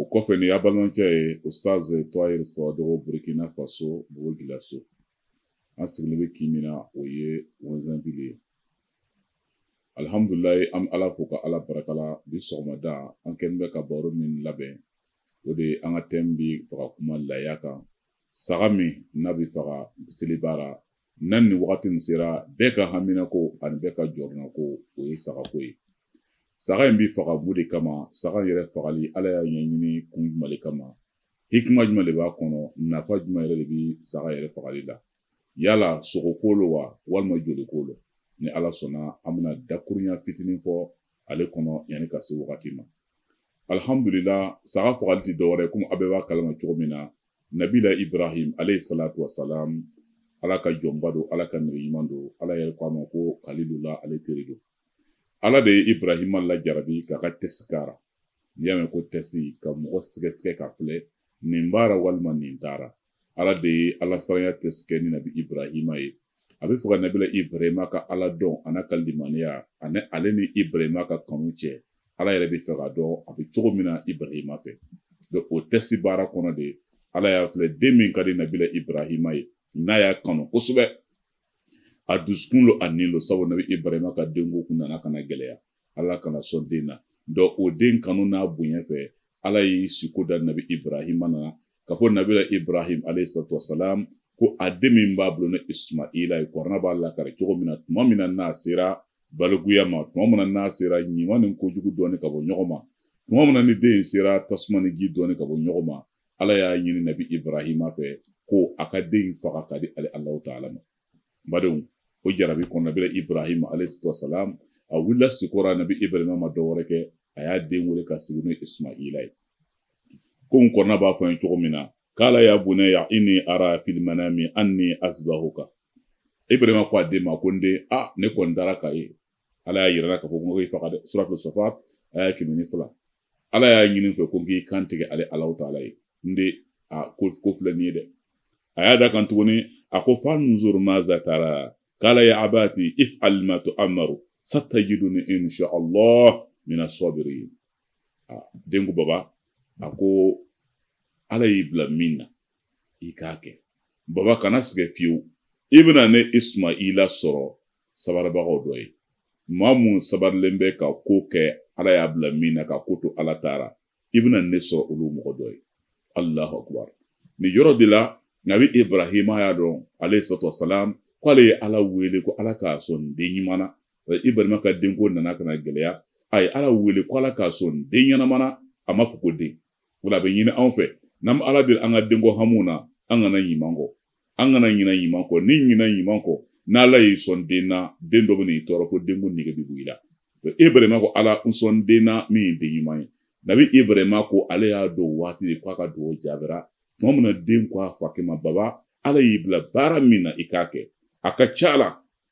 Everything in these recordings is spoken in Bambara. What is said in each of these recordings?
o kɔfɛ nin y'a balimacɛ ye ustaz toyir sawadogo burkina faso bobo julaso an sigilen bɛ kin min na o ye wɛzɛnvili ye alihamdulilayi an bɛ ala fo ka ala baraka la bi sɔgɔmada an kɛlen bɛ ka baro min labɛn o de ye an ka tɛmu b'a fɛ ka kuma laya kan saga min n'a bɛ faga seliba ra nan ni wagati nin sera bɛɛ ka haminako ani bɛɛ ka jɔrɔnako o ye sagako ye saga in bɛ faga mun de kama saga in yɛrɛ fagali ala y'a ɲɛɲini kun juman le kama hikima juman le b'a kɔnɔ nafa juman yɛrɛ le bɛ saga yɛrɛ fagali la yala sogoko lo wa walima joliko lo ni ala sɔnna an bɛna dakurunya fitinin fɔ ale kɔnɔ yanni ka se wagati ma alihamudulila saga fagali tɛ dɔwɛrɛ komi a bɛɛ b'a kalama cogo min na nabila ibrahim alayhi salatu wasalam ala ka jɔnba don ala ka nɛrɛ ɲuman don ala yɛrɛ ko a ma ko kalilula ale teri don ala de ye ibrahima lajarabi k'a ka tɛsi k'a ra n'i y'a mɛn ko tɛsi ka mɔgɔ sɛgɛsɛgɛ k'a filɛ nin b'a ra walima nin t'a ra ala de ye ala saranya tɛsi kɛ ni nabi ibrahima ye a b'a fɛ ka nabila ibrahima ka ala dɔn a n'a ka limaniya ani ale ni ibrahima ka kanu cɛ ala yɛrɛ b'a fɛ k'a dɔn a bɛ cogo min na ibrahima fɛ donc o tɛsi baara kɔnɔ de ala y'a filɛ den min ka di nabila ibrahima ye n'a y'a kanu kosɛbɛ a dusukun lo a ni lo sabu nabi ibrahima ka denko kun nana ka na gɛlɛya ala ka n'a sɔn den na donc o den kanu n'a bonya fɛ ala ye siko da nabi ibrahima na k'a fɔ nabila ibrahim alayhi salatu wasalam ko a den min b'a bolo ni ismaila ye kurana b'a lakari cogo min na tuma min na n'a sera balikuya ma tuma min na n'a sera ɲuman ni kojugu dɔnni ka bɔ ɲɔgɔn ma tuma min na ni den sera tasuma ni ji dɔnni ka bɔ ɲɔgɔn ma ala y'a ɲini nabi ibrahima fɛ ko a ka den faga k'a di ale alahu taala ma n badenw o jarabi kɔnɔ nabila ibrahim alayisalaam a wulila siko ra nabi ibrahim ma dɔ wɛrɛ kɛ a y'a den wele k'a sigi n'o ismaila ye komi kurana b'a fɔ n ye cogo min na kala ya bunaya ini ara fil manami anni asibahuka ibrahim ko a den ma ko n den a ne kɔni dara k'a ye ala y'a yira n la k'a fɔ ko i faga dɛ suratul safat aya kɛmɛ ni fila ala y'a ɲini fɛ ko n k'i kan tigɛ ale alahu taala ye n den a ko ko filɛ nin ye dɛ a y'a da kan tuguni a ko fanzuru maza tara kala ya abati ifal ma tuamaru satajiduni insha allah mina sabirin den ko baba a ko ala y'i bila min na i k'a kɛ baba kana siga fiyewu i bɛna ne ismaila sɔrɔ sabaribagaw dɔ ye maa mun sabarilen bɛ ka ko kɛ ala y'a bila min na ka ko to ala taara i bɛna ne sɔrɔ olu mɔgɔ dɔ ye alahu akubar nin yɔrɔ de la nabi ibrahima y'a dɔn alayhi salatu wasalam ko ale ye ala wele ko ala k'a sɔn den ɲuman na ibrahima ka denko nana ka na gɛlɛya a ye ala wele ko ala k'a sɔn den ɲɛnama na a ma fɔ ko den wa ala b'a ɲini anw fɛ n'an bɛ ala deli an ka denko hamu na an kana ɲuman kɔ an kana ɲina ɲuman kɔ n'i ɲina ɲuman kɔ n'ala y'i sɔn den na den dɔ bɛna i tɔɔrɔ fo denko nege bɛ bɔ i la ibrahima ko ala n sɔn den na min ye den ɲuman ye nabi ibrahima ko ale y'a dɔn waati de k'a ka dugawu jaabira tuma min na den ko a fakɛ ma baba ala y'i bila baara min na i k'a kɛ a ka ca la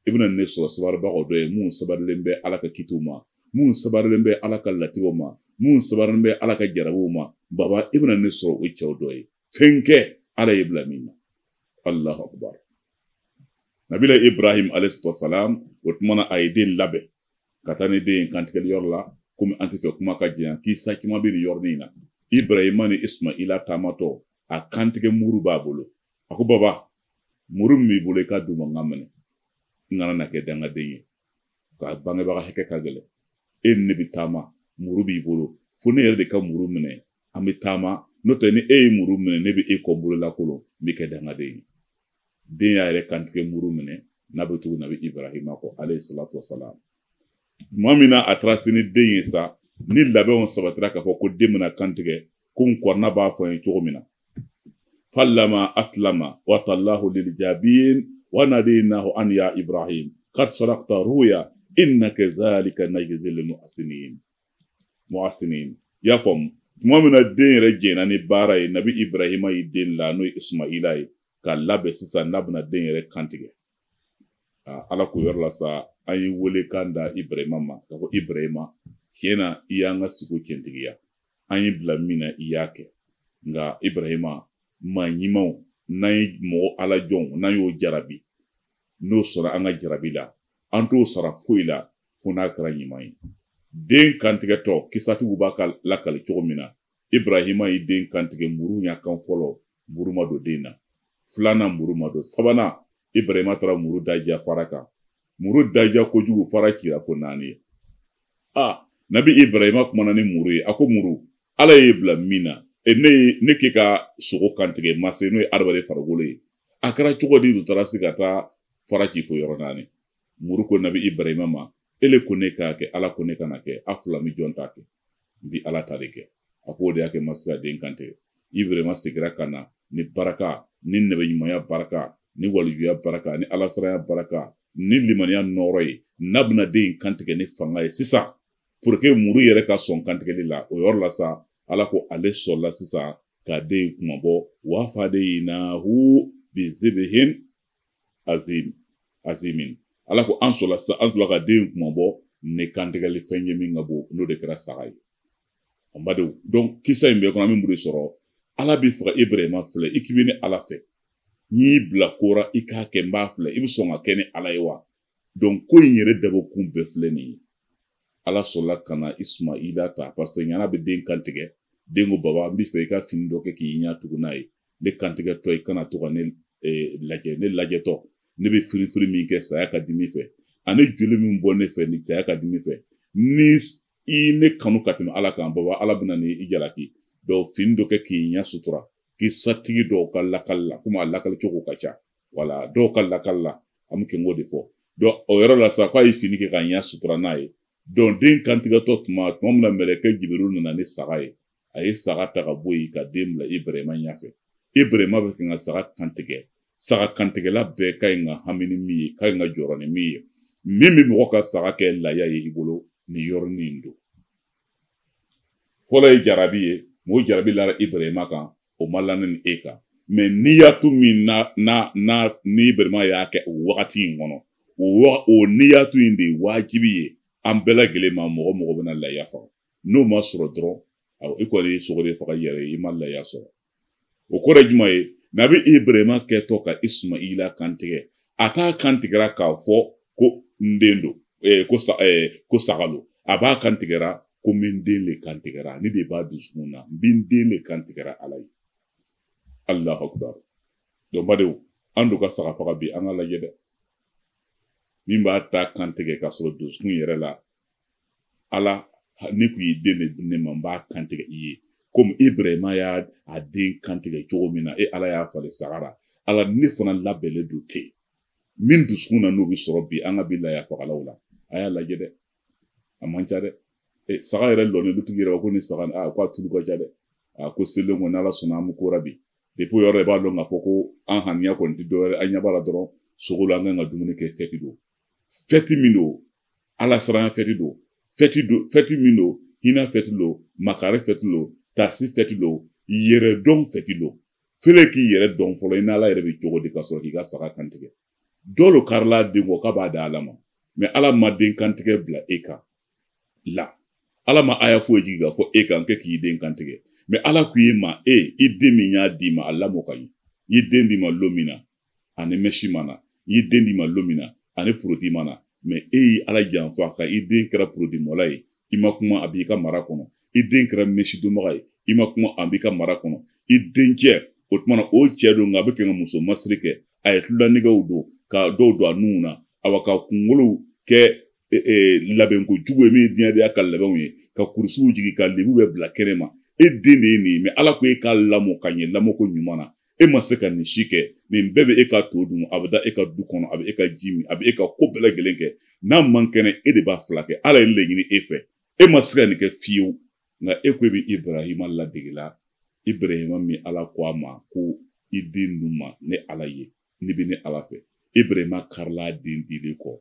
i bɛna ne sɔrɔ sabaribagaw dɔ ye minnu sabarilen bɛ ala ka kitiw ma minnu sabarilen bɛ ala ka latigɛw ma minnu sabarilen bɛ ala ka jarabiw ma baba i bɛna ne sɔrɔ o cɛw dɔ ye fɛn kɛ ala y'i bila min na alahu akubar nabila ibrahim alayhisalaam o tumana a ye den labɛn ka taa ni den ye kantigɛli yɔrɔ la komi an t'a fɛ kuma ka janya kisa caman bɛ nin yɔrɔnin in na ibrahima ni ismaila taamatɔ a kantigɛ muru b'a bolo a ko baba muru min b'i bolo i k'a di n ma n k'a minɛ n kana na kɛ dangaden ye ka bangebaga hakɛ ka gɛlɛn e ni ne bɛ taama muru b'i bolo fo ne yɛrɛ de ka muru minɛ an bɛ taama n'o tɛ ni e ye muru minɛ ne bɛ e kɔ bolo lakolon n bɛ kɛ dangaden ye den y'a yɛrɛ kantigɛ muru minɛ n'a bɛ tugu nabi ibrahima kɔ alayhi salatu wasalam tuma min na a taara se ni den ye sa ni labɛnw sabatira k'a fɔ ko den bɛna kantigɛ ko kurana b'a fɔ an ye cogo min na falama asilama watallahu lilijabin wa nadaynahu an ya ibrahim kad sadakta ruya inna kazalika najzil muhsinin muhasinin i y'a faamu tuma min na den yɛrɛ jɛnna ni baara ye nabi ibrahima y'i den la n'o ye ismaila ye ka labɛn sisan n'a bɛna den yɛrɛ kantigɛ ala ko o yɔrɔ la sa an ye welekan da ibrahima ma k'a fɔ ibrahima cɛn na i y'an ka siko cɛntigiya an y'i bila min na i y'a kɛ nka ibrahima maa ɲumanw n'an ye mɔgɔ ala jɔnw n'an y'o jarabi n'o sɔnna an ka jarabi la an t'o sara foyi la fo n'a kɛra ɲuman ye den kantigɛtɔ kisatigiw bɛ k'a lakali cogo min na ibrahima ye den kantigɛ muru y'a kan fɔlɔ muru ma don den na filanan muru ma don sabanan ibrahima taara muru daja fara kan muru daja kojugu fara cira fo naani ye a nabi ibrahima kumana ni muru ye a ko muru ala y'i bila min na e ne ye ne k'i ka sogo kantigɛ ma se n'o ye adamaden farikolo ye a kɛra cogo di u taara se ka taa fara ci fo yɔrɔ naani muru ko nabi ibrahima ma ele ko ne k'a kɛ ala ko ne kan'a kɛ a fila n bi jɔn ta kɛ n bi ala ta de kɛ a k'o de y'a kɛ n ma se ka den kantigɛ ibrahima segira ka na ni baraka ni nabiɲumanya baraka ni walijuya baraka ni alasiranya baraka ni limaniya nɔɔrɔ ye n'a bɛna den in kantigɛ ni fanga ye sisan puruke muru yɛrɛ ka sɔn kantigɛli la o yɔrɔ la sa ala ko ale sɔnna sisan ka den in kunmabɔ wa fadayinahu bizibihin azimin ala ko an sɔnna sa an sɔnna ka den kunmabɔ ni kantigɛli fɛn ye min ka bon n'o de kɛra saga ye an badenw donc kisa in bɛɛ kɔnɔ an bɛ mun de sɔrɔ ala b'a fɔra ibrahima filɛ i k'i bɛ ne ala fɛ n'i bila ko ra i k'a kɛ n b'a filɛ i bɛ sɔn k'a kɛ ne ala ye wa donc ko in yɛrɛ dabɔ kun bɛɛ filɛ nin ye ala sɔnna ka na ismaila ta paseke yan'a bɛ den kantigɛ den ko baba n bɛ fɛ i ka fini dɔ kɛ k'i ɲɛ tugu n'a ye ne kantigɛtɔ i kana to ka ne eh, lajɛ ne lajɛtɔ ne bɛ firifiri min kɛ saya ka dimi fɛ ani joli min bɔ ne fɛ ni ta ka dimi fɛ ni i ne kanu ka tɛmɛ ala kan baba ala bɛna ni i jalaki donc fini dɔ kɛ k'i ɲɛ sutura k'i satigi dɔw ka lakali la komi a lakali cogo ka ca wala dɔw ka lakali la an bɛ kɛ k'o de fɔ donc o yɔrɔ la sa k'a ye fini kɛ k'a ɲɛ sutura n'a ye dɔn den kantigɛtɔ tuma tuma min na mɛlɛkɛ jibiriw nana ni saga ye a ye saga ta ka bɔ yen ka den bila ibrahima ɲɛfɛ ibrahima bɛ kɛ ka saga kantigɛ saga kantigɛla bɛɛ ka ɲi ka hami ni min ye ka ɲi ka jɔrɔ ni min ye min bɛ mɔgɔ ka saga kɛ laya ye i bolo nin yɔrɔnin in don fɔlɔ ye jarabi ye mɔgɔ jarabi lara ibrahima kan o ma la ne ni e kan mɛ niyatu min na nabi ibrahima y'a kɛ o wagati in kɔnɔ o o niyatu in de ye wajibi ye an bɛɛ lajɛlen ma mɔgɔ mɔgɔ bɛna layiya faga n'o ma sɔrɔ dɔrɔn awɔ i kɔni ye sogo de faga i yɛrɛ ye i ma layiya sɔrɔ o kɔrɔ ye jumɛn ye nabi ibrahima kɛtɔ ka ismaila kantigɛ a t'a kantigɛra k'a fɔ ko n den don eh, ko, sa, eh, ko saga don a b'a kantigɛra ko n bɛ n den de kantigɛra nin de b'a dusukun na n bɛ n den de kantigɛra ala ye alahu akubar donc badenw an dun ka saga faga bi an k'a lajɛ dɛ min b'a ta kantigɛ k'a sɔrɔ dusukun yɛrɛ la ala n'i tun ye den de di ne ma n b'a kantigɛ i ye komi ibrahima ye a den kantigɛ cogo min na e ala y'a falen saga ra ala ne fana labɛnlen don ten min dusukun na n'o bɛ sɔrɔ bi an ka bi laya fagalaw la a y'a lajɛ dɛ a man ca dɛ e, saga yɛrɛ lɔnnen du tigi yɛrɛ ko nin saga a ko a tulu ka ca dɛ a ko selen kɔni ala sɔnna an bɛ ko ra bi depi o yɔrɔ de b'a dɔn k'a fɔ ko an ŋaniya kɔni tɛ dɔwɛrɛ an ɲɛ b'a la dɔrɔn sogo la an kan ka dumuni kɛ fɛti don fɛti min don ala siranya fɛti don fɛti don fɛti min don hinɛ fɛti don makari fɛti don tasi fɛti don yɛrɛ dɔn fɛti don filɛ k'i yɛrɛ dɔn fɔlɔ i n'ala yɛrɛ bɛ cogo di ka sɔrɔ k'i ka saga kantigɛ dɔ lo karila den kɔ k'a b'a di ala ma mɛ ala ma den kantigɛ bila e kan la ala ma aya foyi jigi k'a fɔ e kan kɛ k'i den kantigɛ mɛ ala ko e ma i den min n y'a d'i ma a lamɔ ka ɲɛ n ye den d'i ma lo min na a ni mɛsi ma na n ye den d'i ma don min na a ni porodi ma na mɛ e ye ala janfa ka i den kɛra porodimɔla ye i ma kuma a b'i ka mara kɔnɔ i den kɛra mɛsi donbaga ye i ma kuma a b'i ka mara kɔnɔ i dencɛ o tumana o cɛ don nka a bɛ kɛ ka muso masiri kɛ a ye tulolanɛgɛw don ka dɔw don a nun na awa ka kungolow kɛ e, e, labɛnko jugu ye min ye diɲɛdenya ka labɛnw ye ka kurusiw jigi ka lebu bɛɛ bila kɛnɛ ma e den de ye nin ye mɛ ala ko e k'a lamɔ ka ɲɛ lamɔko ɲuman na e ma se ka nin si kɛ nin bɛɛ bɛ e ka to dun a bɛ da e ka du kɔnɔ a bɛ e ka ji min a bɛ e ka ko bɛɛ lajɛlen kɛ n'a man kɛnɛ e de b'a filakɛ ala ye nin de ɲini e fɛ e ma se ka nin kɛ fiyewu nka e ko e bɛ ibrahima ladegela ibrahima min ala ko a ma ko i den ninnu ma ne ala ye n'i bɛ ne ala fɛ ibrahima karila a den dilen kɔ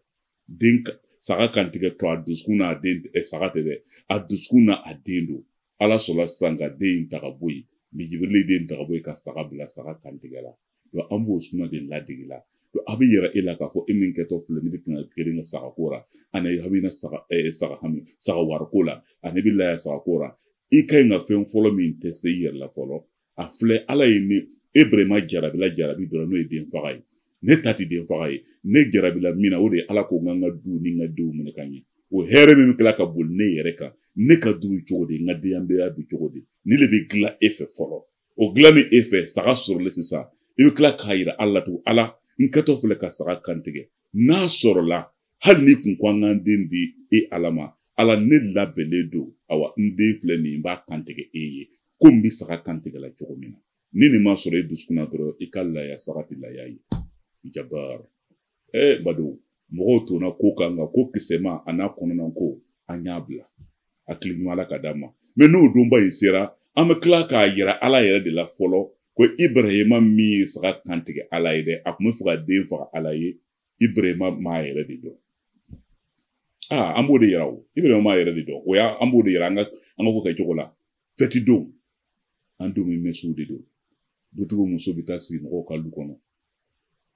den saga kantigɛ to a dusukun na den eh, saga tɛ dɛ a dusukun na a den don ala sɔrɔla sisan ka den in ta ka bɔ yen jibirili den ta ka bɔ yen ka saga bila saga kantigɛra donc an b'o suna de ladegela donc a b'a yira e la k'a fɔ e min kɛtɔ filɛ ne bɛ tɛna geren ka saga ko ra ani a bɛna saga ɛɛ saga hami saga wariko la ani bɛ laya saga ko ra i ka ɲi ka fɛn fɔlɔ min tɛsite i yɛrɛ la fɔlɔ a filɛ ala ye ne ibrahima jarabila jarabi dɔrɔn n'o ye den faga ye ne ta tɛ den faga ye ne jarabila min na o de ye ala ko n ka n ka du ni n ka denw minɛ ka ɲɛ o hɛrɛ min bɛ tila ka boli ne yɛrɛ kan ne ka du cogo di n ka denbaya bɛ cogo di nin le bɛ dilan e fɛ fɔlɔ o dilannen e fɛ saga sɔrɔlen sisan i bɛ tila k'a yira ala la tugun ala n kɛtɔ filɛ ka saga kantigɛ n'a sɔrɔla hali n'i kun ko an k'an den di e ala ma ala ne labɛnnen don awa n den filɛ nin n b'a kantigɛ e ye ko n bɛ saga kantigɛla cogo min na ni nin ma sɔrɔ e dusukun na dɔrɔn i ka laya saga tɛ laya ye jabar ee bado mɔgɔw tonna ko kan nka ko kisɛma a n'a kɔnɔna ko an y'a bila hakili ɲuman ala k'a d'an ma mɛ n'o donba in sera an bɛ tila k'a yira ala yɛrɛ de la fɔlɔ ko ibrahima min ye saga kantigɛ ala ye dɛ a tun b'a fɛ ka den faga ala ye ibrahima m'a yɛrɛ de dɔn aa an b'o de yira o ibrahima m'a yɛrɛ de dɔn o y'a an b'o de yira an ka an ka ko kɛ cogo la fɛti don an denw bɛ mɛsiw de don dutigiw muso bɛ taa sigi mɔgɔw ka du kɔnɔ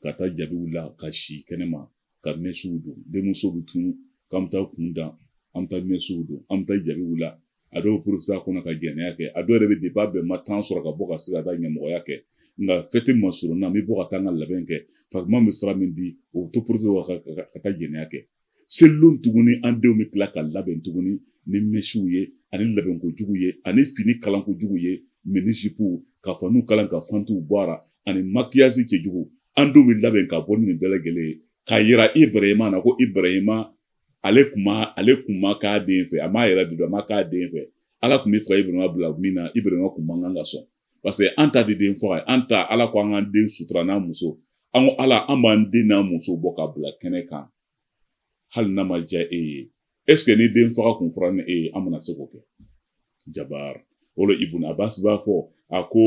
ka taa jabiw la ka si kɛnɛma ka mɛsiw don denmuso bɛ tunu k'an bɛ taa kun dan an bɛ taa mɛsiw don an bɛ taa jabiw la a dɔw porofita kɔnɔ ka jɛnɛya kɛ a dɔw yɛrɛ bɛ deba bɛn ma tan sɔrɔ ka bɔ ka se ka taa ɲamɔgɔya kɛ nka fɛti ma surun na n bɛ bɔ ka taa n ka labɛn kɛ fakuma bɛ sira min di o to porofita ka taa jɛnɛya kɛ selilon tuguni an denw bɛ tila ka labɛn tuguni ni mɛsiw ye ani labɛnko jugu ye ani fini kalanko jugu ye minisipuw ka faniw kalan ka fantiw bɔ a la ani makiyasi cɛjugu an denw bɛ labɛn ka bɔ ni nin bɛɛ lajɛlen ye k'a yira ibrahima na ko ibrahima ale kun ma ale kun ma k'a den fɛ a m'a yɛrɛ de dɔn a ma k'a den fɛ ala kun bɛ fɛ ibrahima bila min na ibrahima kun man kan ka sɔn paseke an ta tɛ den faga ye an ta ala ko an k'an den sutura n'an muso an ko ala an b'an den n'an muso bɔ ka bila kɛnɛ kan hali n'a ma diya e ye ɛseke ni den faga kun fɔra ni e ye an bɛna se k'o kɛ jabaar o la ibun abasi b'a fɔ a ko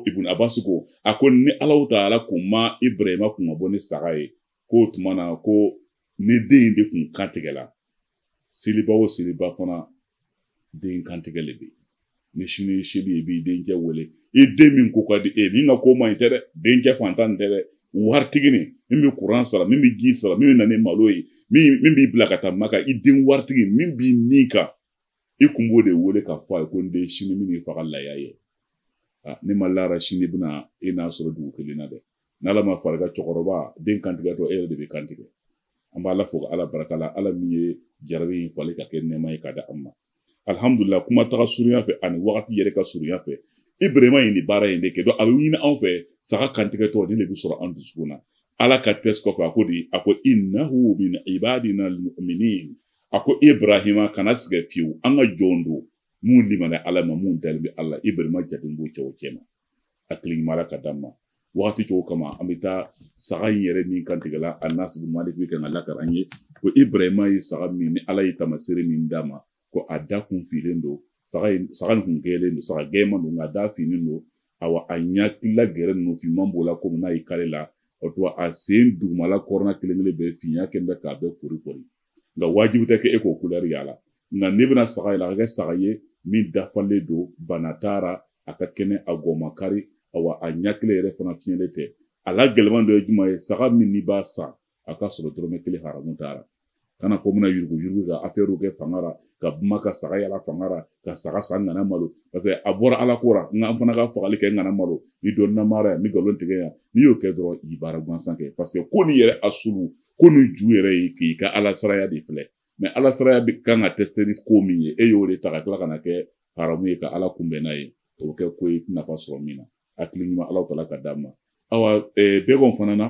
ibun abasi ko a ko ni alahu taala kun ma ibrahima kun ka bɔ ni saga ye k'o tuma na ko ni den in de kun kantigɛla seliba o seliba fana den kantigɛ le bɛ ni sini ye seli ye i b'i denkɛ wele i den min ko ka di e min ka ko man ɲi tɛ dɛ denkɛ fantan tɛ dɛ waritigi nin min bɛ kuran sara min bɛ ji sara min bɛ na ni malo ye min b'i bila ka taa maka i den waritigi min b'i ni kan i kun b'o de wele k'a fɔ a ye ko n den sini min y'i faga laya ye ne ma la a ra sini bɛna e n'a sɔrɔ dugu kelen na dɛ n'ala ma fara i kan cɛkɔrɔba den kantigɛtɔ e yɛrɛ de bɛ kantigɛ an b'ala fo ka ala barika la ala min ye jarabi in falen ka kɛ nɛɛma ye ka da an ma alihamudulila kuma taga surunya fɛ ani wagati yɛrɛ ka surunya fɛ ibrahima ye nin baara in de kɛ a bɛ ɲini anw fɛ saga kantigɛtɔ nin de bɛ sɔrɔ an dusukun na ala ka tɛsi kɔfɛ a ko de a ko innahu min ibadina almuminin a ko ibrahima kana siga fiyewu an ka jɔn don mun limana ala ma mun dalen bɛ ala ibrahima jaten b'o cɛw cɛ ma hakili ɲuman ala ka d'an ma wagati cogo kama an bɛ taa saga in yɛrɛ min kantigɛla anasi bun malik bɛ kan k'a lakali an ye ko ibrahima ye saga min ni ala ye tamasere min d'a ma ko a da kun finen don saga in saga nin kun gɛlen don saga gɛman don nka a da finen don awa a ɲakili gɛrɛ ninnu finman b'o la komi n'a ye kale la o tuma a sen dugumala kɔrɔna kelen kelen bɛɛ finya kɛn bɛ k'a bɛɛ kori kori nka wajibi tɛ kɛ e k'o kulɛri yala nka n'e bɛna saga yala a ka kɛ saga ye min dafalen don bana t'a ra a ka kɛnɛ a gɔ ma kari awa a ɲakili yɛrɛ fana fiɲɛlen tɛ a la gɛlɛman dɔ ye jumɛn ye saga min n'i b'a san a ka sɔrɔ dɔrɔmɛ kelen haramu t'a ra kana fɔ bɛna yurugu yurugu ka afɛriw kɛ fanga ra ka buma ka saga yala fanga ra ka saga san ŋana malo paseke a bɔra ala ko ra nka an fana ka fagali kɛ ŋana malo ni dɔ namaraya ni galontigɛya n'i y'o kɛ dɔrɔn i baara gansan kɛ paseke ko ni ye rasulu ko nin ju yɛrɛ ye k'i ka ala siranya de filɛ mais ala siranya bɛ kan k'a tɛsite ni ko min ye e y'o de ta ka tila ka na kɛ haramu ye ka ala kunbɛn n'a ye o bɛ kɛ ko ye nafa sɔrɔ min na hakili ɲuman ala tala ka d'an ma awa eh, bɛgɛn fana na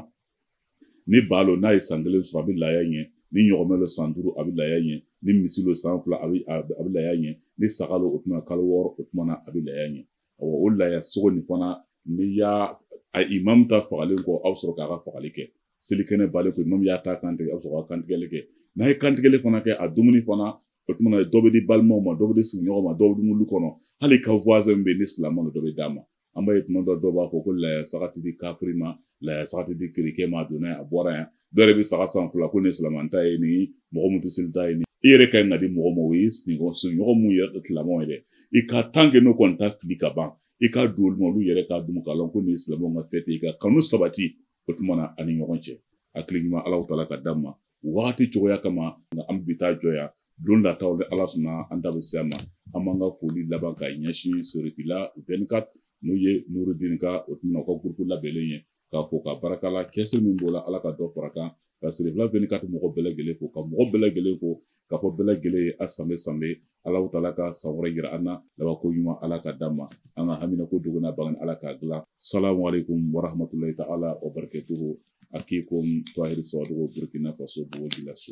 ni ba lo n'a ye san kelen sɔrɔ a bɛ laaya ɲɛ ni ɲɔgɔmɛ lo san duuru a bɛ laaya ɲɛ ni misi lo san fila a bɛ a bɛ laaya ɲɛ ni saga lo o tuma kalo wɔɔrɔ o tuma na a bɛ laaya ɲɛ awa o laaya sogo nin fana n'i y'a a imamu ta fagalen kɔ aw sɔrɔ k'a ka fagali kɛ selikɛnɛ banlen kɔ imamu y'a ta kantigɛ aw bɛ sɔrɔ ka kantigɛli kɛ n'a ye kantigɛli fana kɛ a dumuni fana o tuma dɔ bɛ di balimaw ma dɔ bɛ di sigiɲɔgɔn ma dɔ bɛ dumu lu kɔnɔ hali i ka voisin bɛ ni silamɛ dɔ bɛ d'a ma an b'a ye tuma dɔ dɔw b'a fɔ ko laya saga tɛ di kafiri ma laya saga tɛ di kerecɛn ma a donna a bɔra yan dɔ yɛrɛ bɛ saga san fila ko nin silamɛ ta ye nin mɔgɔ mun tɛ seli ta ye nin i yɛrɛ ka ɲi ka di mɔgɔ ma o ye sigiɲɔgɔn mun yɛrɛ tɛ silamɛ ye dɛ i ka tant que n'o kɔni t'a fili ka ban i ka dɔ d'olu ma olu yɛrɛ k'a dun k'a lɔn ko nin ye silamɛw ka fête ye ka kanu sabati o tuma na an ni ɲɔgɔn cɛ hakili ɲuman alahu taala ka d'an ma wagati cogoya kama nka an bɛ taa jɔ yan don nataw ni ala sɔnna an da bɛ se a ma an b'an ka foli laban ka ɲɛsin serifila vingt-quatre n'o ye nurudin ka o tuma o ka gurupu labɛnnen ye k'a fɔ ka barakala kɛse min b'o la ala ka dɔ fara kan ka serifila vingt-quatre mɔgɔ bɛɛ lajɛlen fo ka mɔgɔ bɛɛ lajɛlen fo k'a fɔ bɛɛ lajɛlen ye a sanbe sanbe alahu taala ka san wɛrɛ yira an na labanko ɲuman ala ka d'an ma an ka hamina ko dogo n'a bange ala k'a dilan salamu aleykum warahamatulayi ta ala wa barakatuhu akukum tahiri sawadogo burkina faso bobo julaso